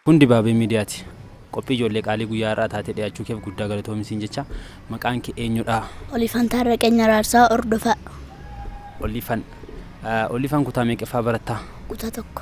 Kun dibaabee miidiyaati. Qophii ijoollee qaalii guyyaa har'aa taatee dhiyaachuu keef guddaa galatoomi siin jecha. Maqaan kee eenyudha? Olifan Taarraqeenya Raarsaa Ordofaa Olifan. Olifan kutaa meeqaffaa barattaa? kutaa tokko.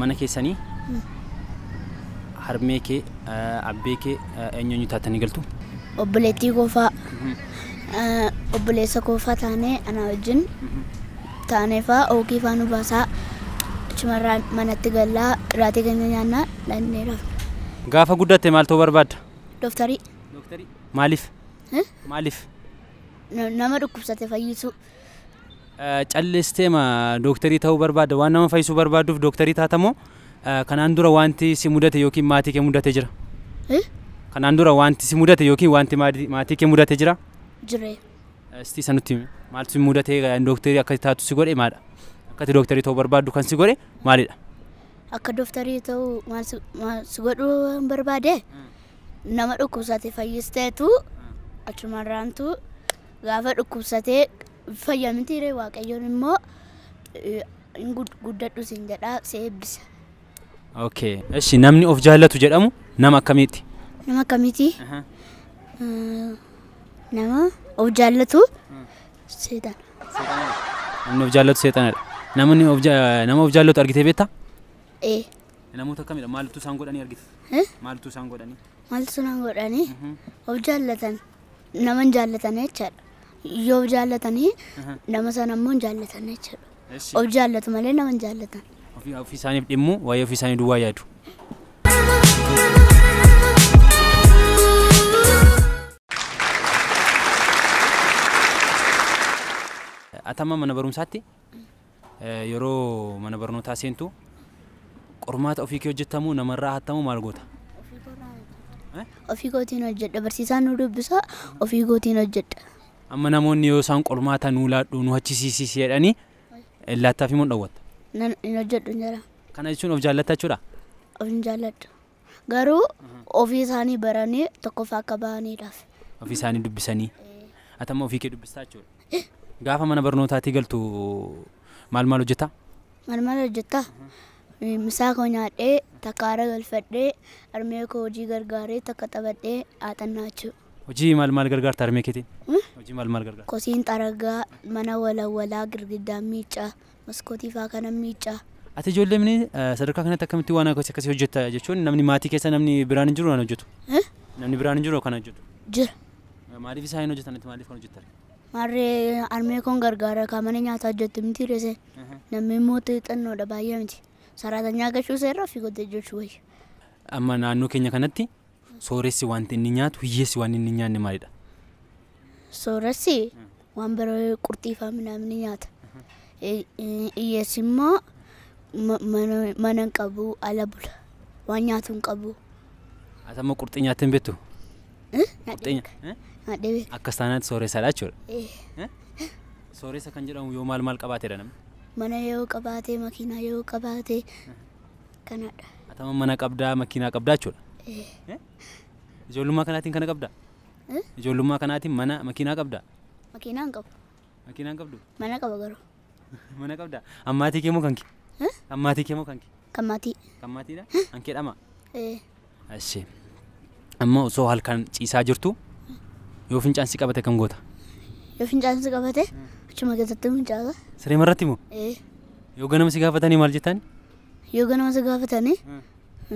mana keessani harmee kee abbee kee eenyu eenyu taatanii galtu? Obboleettii koo faa obboleessa koo faa taanee anaa wajjin taanee faa ookii faa nu baasaa achumarraa manatti gallaa iraatii keenya nyaannaa dhannee rafna. Gaafa guddatte maal ta'uu barbaadda? Dooftarii Maaliif? Eh? Maaliif? nama dhukkubsate fayyisuu. Callisteema dooktarii ta'uu barbaadda? Waan nama fayyisuu barbaadduuf dooktarii taata moo kanaan dura wanti si mudate yookiin maatii kee mudate jira? Eh? Kanaan dura wanti si mudate yookiin wanti maati- maatii kee mudate jira? Jiree. Eh, Sitii isa nutti himi. Maaltu si mudate eh, dooktarii akka taatu si godhe maadha? Akkati dooktarii ta'uu barbaaddu kan si godhe maalidha? Akka dooftarii ta'uu maal si- maal si godhuu waan barbaade nama dhukkubsate fayyisteetu achumarraantu Gaafa dhukkubsatee fayya mitii ree waaqayyoon immoo hin guddadhu siin jedhaa si eebbisa. Okay. Eshi namni of jaallatu jedhamu nama akkamiitti? Nama akkamiitii? Nama of jaallatu seexana. Namni of jaallatu seexanadha. Namni of nama of jaallatu argitee beektaa? Ee. Namoota akkamidha? Maaltu isaan godhanii argite? Maaltu isaan godhanii? Maaltu isaan godhanii? Of jaallatan. nama hin jaallatanii jechaadha. Yoo of jaallatanii nama sana immoo hin jaallatan jechaadha. Of jaallatu malee nama hin jaallatan. Ofii ofii isaaniif dhimmu waa'ee ofii isaanii duwwaa yaadu. Atamma mana barumsaatti Yeroo mana barnootaa seentu qormaata ofii kee hojjetta moo namarraa hatta moo maal goota? Ofii kootiin hojjedha. Barsiisaan nu dubbisa ofii kootiin hojjedha. Amma namoonni yoo isaan qormaata nuu laadhu nu hachisiisis jedhanii laattaaf immoo hin dhowwatta. Nan hin hojjedhu hin jedha. Kana jechuun of jaallatta jechuudha? Of hin jaalladhu. Garuu ofii isaanii baranii tokkoffaa akka bahaniidhaaf. Ofii isaanii dubbisanii. Ati amma ofii kee dubbistaa jechuudha. Gaafa mana barnootaatii galtu maal maal hojjetaa? Maal maal hojjettaa? Misaa koo nyaadhee takka haara galfadhee harmee koo hojii gargaaree takka taphadhee haaxannaa jechuudha. Hojii maal maal gargaarta harmee keetiin? Hojii maal maal gargaarta? Kosiin xaragaa mana walawwalaa girgiddaan miiccaa. maskootii faa kanan miicca. Ati ijoollee mini sadarkaa kanatti akkamitti waan akkasii akkasii hojjetta jechuun namni maatii keessa namni biraan hin jiru waan hojjetu. Eh? Namni biraan hin jiru kan hojjetu. Jira. Maaliif isaa hin hojjetan ati maaliif kan hojjettan? Maarree armee koon gargaara kaa mana nyaataa hojjettu miti reese. Namni immoo xixannoodha baay'ee miti. Saraatanyaa gachuu seerraa fi godda hojjechuu wayya. Amma naannoo keenya kanatti Sooressi wanti inni nyaatu hiyyeessi waan inni hin nyaanne maalidha? Sooressi waan biroo qurxii fa'aa minamni nyaata. Hiyyeessi immoo mana hin qabu ala bula. Waan nyaatu hin qabu. Ati amma qurxii nyaattee hin beektu? Akkas taanaatti sooressadha jechuudha. Sooressa kan jedhamu yoo maal maal qabaateedha namni? Mana yoo qabaate, makiinaa yoo qabaate, kanadha. Atama mana qabdaa makiinaa qabdaa jechuudha. Eh, Ijoollummaa kanaatiin kana qabdaa? eh, Ijoollummaa kanaatiin mana makiinaa qabdaa? Makiinaa hin qabu. Makiinaa hin qabdu? Mana qaba garuu. Mana qabdaa? Ammaatii kee moo kan kee? Eh, Ammaatii kee moo kan kee? Kan maatii. Kan maatiidha? Kan kee dhamaa? Eh, Eshi. Amma osoo halkan ciisaa jirtu yoo fincaan si qabate kam goota? Yoo fincaan si qabate achuma keessatti fincaata. Siree marratti moo? Ee. Yoo ganama si gaafatanii maal jettaan? Yoo ganama si gaafatanii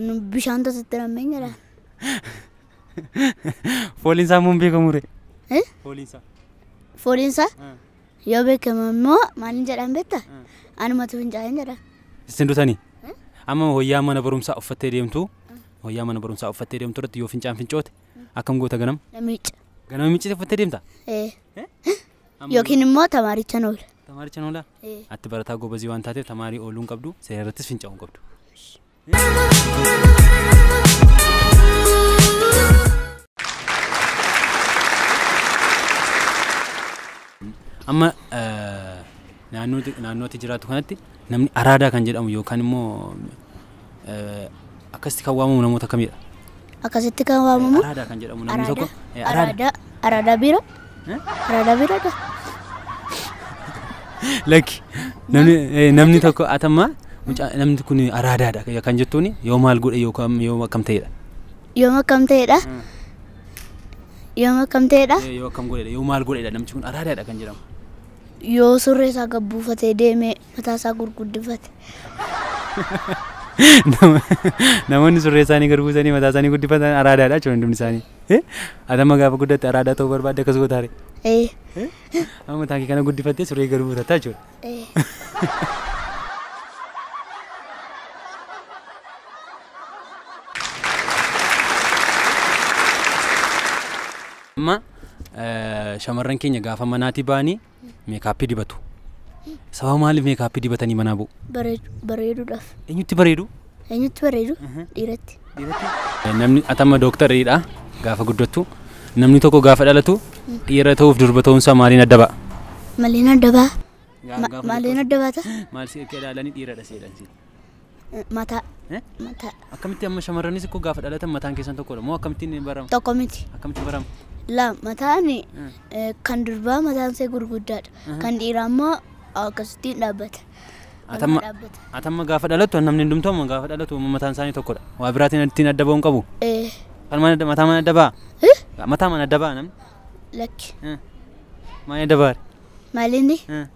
nu bishaan tasitti nammeen jedha. Fooliin isaa immoo hin beekamu ree? Eh? Fooliin isaa. Fooliin isaa Yoo beekame immoo maalin jedhaan beekta? Anumatu fincaa'een jedha. Isin dutanii? Amma wayyaa mana barumsaa uffattee deemtu wayyaa mana barumsaa uffattee deemtu irratti yoo fincaan fincoote akkam goota ganam? Na miicca. Ganama miccite uffattee deemta? Ee. Amma Yookiin immoo tamaarichan oola. Tamaarichan oolaa? Ee. Atti barataa gobazii waan taateef tamaarii ooluu hin qabdu seera irrattis fincaa'uu hin qabdu. Amma eh, naannoo naannoo ati jiraattu kanatti namni araadaa kan jedhamu yookaan immoo eh, akkasitti kan waamamu namoota akkamidha? akkasitti kan waamamu Araadaa kan jedhamu namni tokko araadaa eh, araada araadaa araadaa biira araadaa biira dha lakki namni eh, namni tokko atamma mucaa namni kun araadaadha kan jettuun yoo maal godhe yookaan yoo akkam ta'edha. yoom akkam ta'edha yoom akkam ta'edha Eh, Yoo akkam godhedha yoo maal godhedha namni kun araadaadha kan jedhamu. yoo surree isaa gabbuufatee deeme mataa isaa gurguddifate. Nama- Namoonni surree isaanii gad buusanii mataa isaanii guddifatan araadaadha jechuudha hundumni isaanii. Eh? Ati amma gaafa guddatte araadaa ta'uu barbaadde akkas gootaare. Ee, Amma mataa kee kana guddifattee surree gad buusatta jechuudha. ee. Amma eh, shamarran keenya gaafa manaatii ba'anii Meekaappii dibatu. Sababa maaliif meekaappii dibatanii manaa bu'u? Bareedu- Bareeduudhaaf. Eenyutti bareedu? Eenyutti bareedu? Dhiiratti. Namni atama dooktaridha gaafa guddattu. Namni tokko gaafa dhalatu dhiira ta'uuf durba ta'uunsaa maaliin adda ba'a? Maliin adda ba'a? Maliin adda baata? Maal si akka ilaalanii dhiiradha si jedhan si. Mataa. Eh? Mataa. Akkamitti amma shamarranis koo gaafa dhalatan mataan keessan tokkodha moo akkamittiin barama? Tokko miti. Akkamitti barama? Lama mataan Mm. eh, kan durbaa mataan isaa gurguddaadha. Kan dhiiraa immoo akkasittiin dhaabbata. Atamma dhaabbata. atamma gaafa dhalattu namni hundumtuu amma gaafa dhalattu amma mataan isaanii tokkodha. Waa biraatiin ittiin adda ba'uu hin qabu. Eh, Kan mana mataa mana adda ba'a. eh, Mataa mana adda ba'a namni. Lakki. Eh. Maal adda ba'a? Maalinni Eh.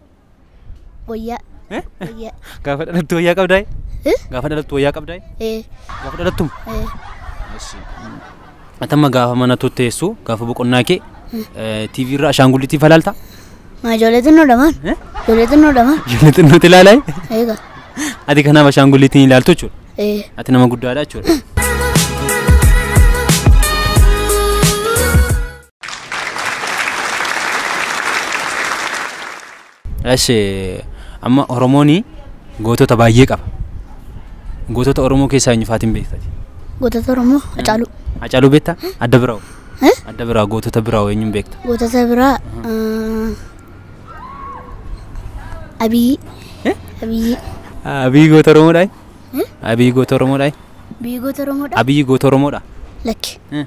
Wayyaa. Eh? Wayyaa. Gaafa dhalattu wayyaa qabdaa? Eh? Gaafa dhalattu wayyaa qabdaa? Ee. Gaafa dhalattu? Ee. Atamma gaafa mana tutteessu gaafa boqonnaa kee TV irra ashaangulliitii falaalta? Maa ijoollee xinnoo dhamaan? Eh? Ijoollee xinnoo dhamaan? Ijoollee xinnooti ilaalaa? Eegaa. Ati kanaaf ashaangulliitiin ilaaltu jechuudha. Ee. Ati nama guddaadha jechuudha. Eshi amma Oromooni gootota baay'ee qaba. Gootota Oromoo keessaa eenyu faatiin beektati? Gootota Oromoo Hacaaluu. Hacaaluu beektaa? Adda biraa'u. Eh? Adda biraa gootota biraa'u eenyuun beekta? Gootota biraa ah, Abiyyi. Eh? Abiyyi. Abiyyi goota Oromoodhaa? Eh? Abiyyi goota Oromoodhaa? Biyyi goota Oromoodha? Abiyyi goota Oromoodhaa? Lakki. Eh.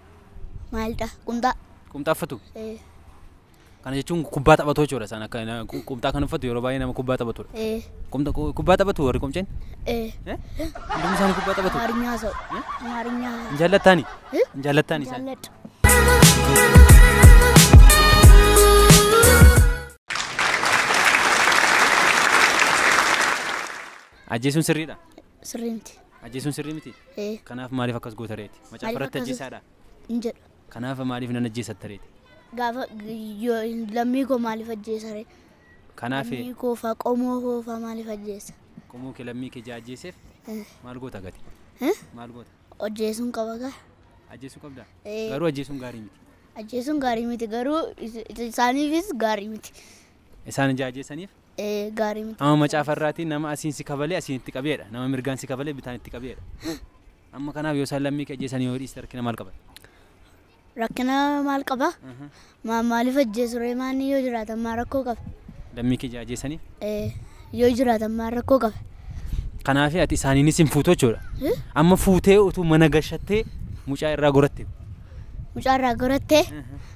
Maalidha? Qumxaa. Qumxaa uffatu? Ee. Kana jechuun kubbaa taphatoo jechuudha isaan akka na- qu- qumxaa kan uffatu yeroo baay'ee nama kubbaa taphatudha. Ee. Qumxa- qu- Kubbaa taphatu warri qomceen? Ee. Eh? Hundumti isaanii kubbaa taphatu. Amaarinyaa sa'u. Amaarinyaa. Hin jaallattaani? Eh? Hin jaallattaani isaan? Jaalladha. Ajjeesuun sirriidha. sirrii miti. Ajjeesuun sirrii miti? Ee. Kanaaf maaliif akkas goota reeti? Maaliif Macaafa irratti akkas- ajjeesaadha. Hin jedhu. Kanaaf maaliif nan ajjeesatta reeti? Gaafa yoo lammii koo maaliif ajjeesa ree? Kanaaf Lammii koo faa qomoo koo faa maaliif ajjeesa? qomoo kee lammii kee jaa ajjeeseef Eh. maal goota gati? Eh? Maal goota? Ajjeesuun qaba gaa. Ajjeesuu qabdaa? Ee. Garuu ajjeesuun gaarii miti. Ajjeesuun gaarii miti garuu is- isaaniifis gaarii miti. isaan ijaajeesaniif. gaarii miti. Amma macaafa irraati nama asiin si kabalee asiin itti qabee dha. Nama mirgaan si kabalee bitaan itti qabee dha. Amma kanaaf yoo isaan lammii kee ajjeesanii yoo dhiiste rakkina maal qaba? Rakkina maal qaba? Maaliif ajjeesu ree maanni yoo jiraatan maa rakkoo qaba? Lammii kee ijaajeesaniif. Yoo jiraatan maa rakkoo qaba? Kanaaf ati isaaniinis hin fuutu jechuudha. Amma fuutee utuu mana gashattee mucaa irraa goratte. Mucaa irraa goratte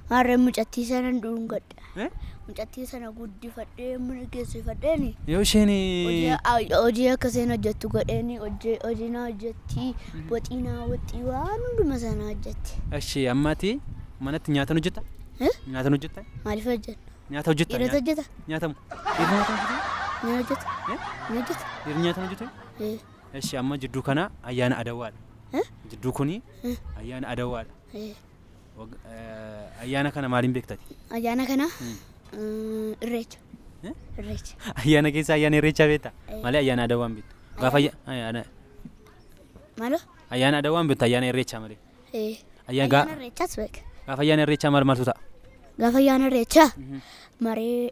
maarree mucattii sanan dhuungadhe. Eh? Mucattii sana guddifadhee mana geessifadheeni. Yoo isheen Hojii ay- hojii akka isheen hojjettu godheeni hojii hojii naa hojjetti waxii naa waxii waan hunduma isaa naa hojjetti. Ashee amma ati manatti nyaatan hojjetta? Eh? Nyaatan hojjetta? Maaliif hojjenna? Nyaata hojjetta? Dhiirota hojjeta? Nyaatamu. Dhiirri nyaatan hojjeta? Ni hojjeta? Eh? Ni hojjeta? Dhiirri nyaatan hojjeta? Eh, Ashee amma jidduu kana ayyaana adawaadha. Eh? Jidduu kuni ayyaana adawaadha. eh. Wag- eh, Ayyaana kana maaliin beektati? Ayyaana kana mm, irreecha. Eh? Irreecha. Ayyaana keessa ayyaana irreechaa beekta? Eh. Malee ayyaana aadaa waan beektu. Gaafa ayya- ayyaana Maaloo? ayyaana aadaa waan beektu ayyaana irreechaa malee. Eh, Ayyaa- gaa- Ayyaana irreechaas beeka. Gaafa ayyaana irreechaa maal maaltu ta'a? Gaafa ayyaana irreechaa maree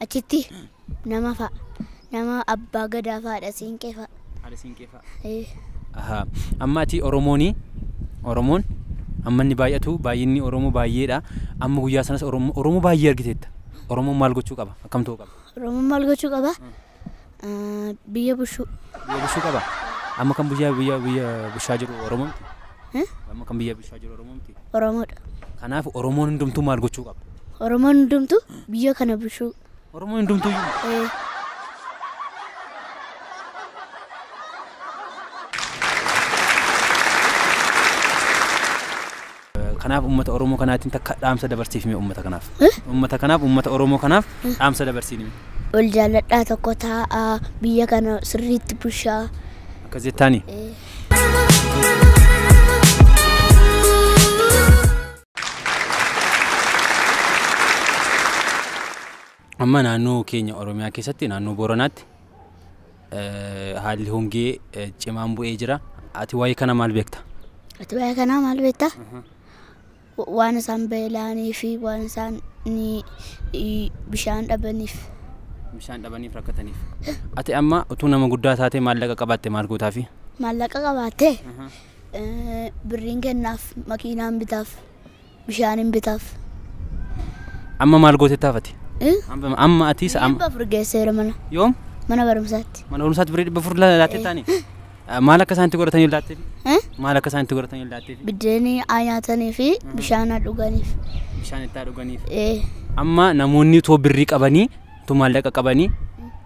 Achitti nama fa'a. Nama abbaa gadaa fa'aadha siinqee fa'a. Haadha siinqee fa'a. Eh, Ahaa. Amma ati Oromooni Oromoon amma inni baay'atu baay'inni Oromoo baay'eedha. Amma guyyaa sanas Oromoo Oromoo baay'ee argiteetta. Oromoon maal gochuu qaba? Akkam ta'uu qaba? Oromoon maal gochuu qaba? Ah, Biyya bushuu. Biyya bushuu qaba. Amma kan biyya biyya biyya bushaa jiru Oromoo miti. Eh? Amma kan biyya bushaa jiru Oromoo miti. Oromoodha. Kanaaf Oromoon hundumtuu maal gochuu qaba? Oromoon hundumtu biyya kana bushuu. Oromoon hundumtuu iyyuu Eh, Kanaaf ummata Oromoo kanaatiin takka dhaamsa dabarsiif mee ummata kanaaf. Ummata kanaaf ummata Oromoo kanaaf dhaamsa dabarsiin mee. Wal jaalladhaa tokko taa'aa biyya kana sirriitti bushaa. Akkas jettaanii? Amma naannoo keenya Oromiyaa keessatti naannoo Booranaatti haalli hongee cimaan bu'ee jira. Ati waa'ee kana maal beekta? Ati waa'ee kanaa maal beekta? Waan isaan beela'anii fi waan isaan bishaan dhabaniif. Bishaan dhabaniif rakkataniif. Ati amma utuu nama guddaa taatee maallaqa qabaatte maal gootaafi? Maallaqa qabaattee birriin kennaaf makiinaan bitaaf. Bishaanin bitaaf. Amma maal gootee taafate? Eh? Amma amma atiis Birrii amma dhibba afur geesseera mana. yoom Mana barumsaatti. mana barumsaatti birrii dhibba afur la- laattee Eh. taani? Ah, Maal akka isaan itti godhatanii laattee? Eh? Maal akka isaan itti godhatanii laattee? Biddeenii haa nyaatanii fi bishaan haa dhuganiif. Bishaan itti haa dhuganiif. Eh. Amma namoonni utoo birrii qabanii utoo maallaqa qabanii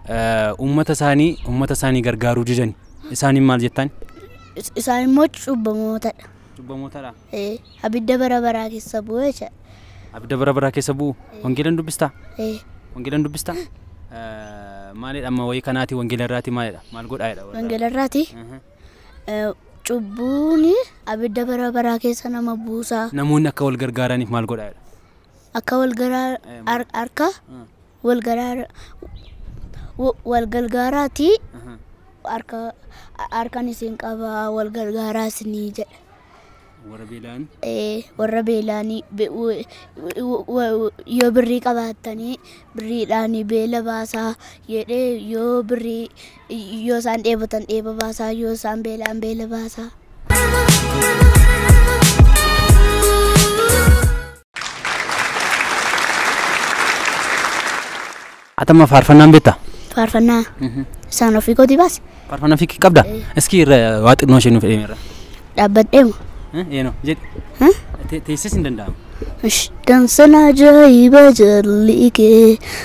eh, uummata isaanii uummata isaanii gargaaruu didani. Isaaniin maal jettaan? Is- Isaan immoo cubbamootadha. Cubbamootadha. Ee, abidda bara baraa keessa bu'e jedha. Abidda bara baraa keessa bu'u wangeelan dubbistaa? Ee, Wangeelan dubbistaa? Maalidha amma wayii kanaati wangeela irraati maalidha? Maal godhaa jedha? warra? wangeela irraati Mhm. ee, cubbuun abidda bara baraa keessa nama buusaa Namoonni akka wal gargaaraniif maal godhaa jedha? akka wal garaa har- harka Mm. wal garaa wa- wal gargaaraatii Mhm. harka harkan isin qabaa wal gargaaraa isinii jedha. Warra beelaan ee, warra beelaanii be- w- w- w- yoo birrii qabaattanii birriidhaan beela baasaa jedhee yoo birrii yoo isaan dheebotan dheeba baasaa yoo isaan beelaan beela baasaa. Atama faarfannaan beektaa? Faarfannaa isaan ofii kootii baase. Faarfannaa fiikii qabdaa? Iskii irra waa xinnoo ishee nuuf eemi irra. Dhaabbadheema. Eenoo jedhi. Hah? Teessis hin danda'amu. Dansan ajaa'iba jalli kee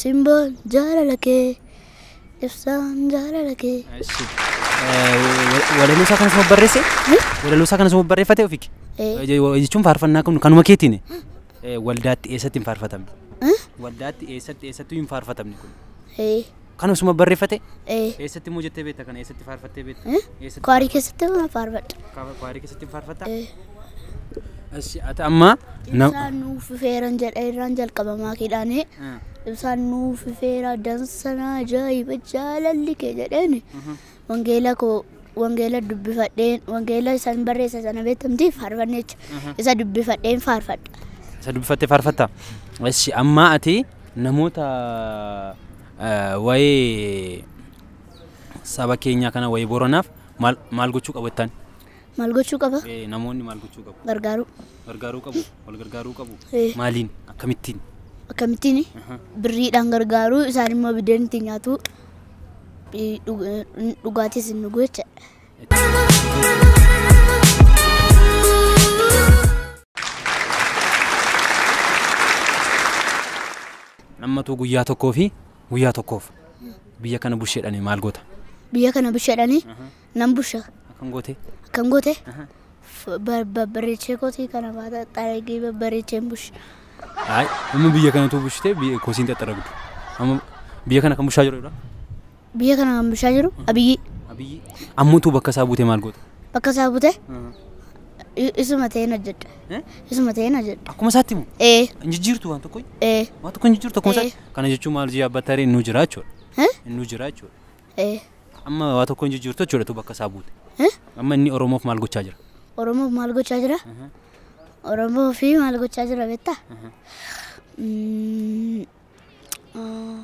Simbaan jaalala kee ibsaan jaalala kee. Walaloo isaa kanas barreesse? Walaloo isaa kanas barreeffate ofiki? Jechuun faarfannaa kun kanuma keetiin waldaatti eessatti hin faarfatamne? Waldaatti eessatti eessattuu hin faarfatamne kun? Kan osuma barreeffate? Ee. Eessatti immoo jettee beekta kana? Eessatti faarfattee beekta? Eh? Eessatti Kwaarii keessatti waan faarfadha. faarfa- kwaarii keessatti hin faarfatta? Eh. Ashi ati amma na- Ibsaan nuuf fifeeran jedha irraan jalqabamaa keedhaanii. Eh, Ibsaan nuuf fifeera dansanaa ajaa'iba jaalalli kee jedheeni. Wangeela koo wangeela dubbifadheen wangeela isan barreessa sana beekamtiif faarfanneecha isa dubbifadheen faarfadha. Isa dubbifattee faarfatta. Eshi ammaa ati namoota eh, waa'ee saba keenyaa kana waa'ee Booranaaf maal maal gochuu qabu jettaan? Maal gochuu qaba? Ee, namoonni maal gochuu qabu? Gargaaruu. Gargaaruu qabu? Wal gargaaruu qabu? Ee. Maaliin? Akkamittiin? Akkamittiin Aha. birriidhaan gargaaruu isaan immoo biddeen ittiin nyaatu eh, dhug- eh, dhugaatis hin dhugu jecha. Nammatuu guyyaa tokkoo fi guyyaa tokkoof biyya kana busheedhani maal goota? Biyya kana bishaadhanii Nan busha. Akkam gootee? Akkam gootee? Babbareechee kootii kana baata xaragee babbareecheen busha. Ayi, amma biyya kanatu bushitee biyya kosiin xaxaragdu. Amma biyya kana kan bushaa jiru dha. Biyya kana kan bushaa jiru abiyyii. Abiyyii. Amma utuu bakka isaa buutee maal goota? Bakka isaa buutee isuma ta'een hojjedha. Isuma ta'een hojjedha. Akkuma isaatti moo? Ee. Hin jijjiirtu waan tokko? Ee. Waan tokko hin jijjiirtu akkuma isaatti? Kana jechuun maal jee abbattaaree innuu jiraachudha. Innuu jiraachudha. Ee. Amma waa tokko hin jijjiirtu jechuudha tu bakka isaa buute. Eh? Amma inni Oromoof maal gochaa jira? Oromoof maal gochaa jira? Oromoo fi maal gochaa jira beektaa? Mm, ah,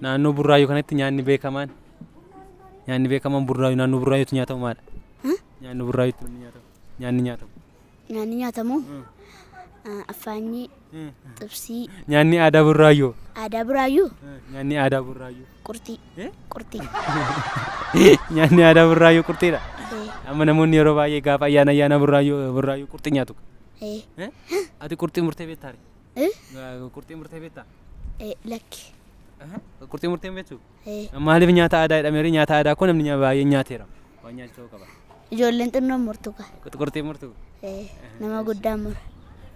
Naannoo Burraayyuu kanatti nyaanni beekamaan Nyaanni beekamaan burraayyuu naannoo burraayyuutti nyaatamu maadha? Nyaanni burraayyuutti inni nyaatamu. Nyaanni nyaatamu. Nyaanni nyaatamu affaanyii, xibsii, Nyaanni aadaa burraayyuu. aadaa buraayyuu, Nyaanni aadaa burraayyuu. qurxii, qurxii. Nyaanni aadaa burraayyuu qurxiidha. Eh, Amma namoonni yeroo baay'ee gaafa ayyaana ayyaana burraayyuu burraayyuu qurxii nyaatu. eh, Eh? Ati qurxii murtee beektaa? eh, Qurxii murtee beektaa? eh, lakki. Qurxii murtee hin beektu? Ee. Maaliif nyaata aadaa jedhameera? Nyaata aadaa koo namni nyaa- baay'een nyaateera. Waan nyaachisu ta'uu qaba. Ijoolleen xinnoon murtu kaa. Qurxuqurxii murtu. Ee. Nama guddaan mura.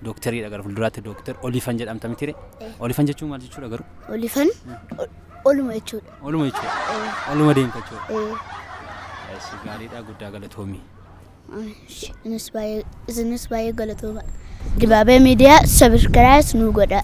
Dookteriidha gara fuulduraatti dookter Olifan jedhamta mitire. Eh. Olifan jechuun maal jechuudha garuu? Olifan ol- oluma jechuudha. Oluma jechuudha. Ee. Oluma deemta jechuudha. Ee. Eessi gaariidha guddaa galatoomi. Ishi, Isinis baay'ee isinis baay'ee galatooma. Dibaabee miidiyaa sabiskiraayis nuu godhaa.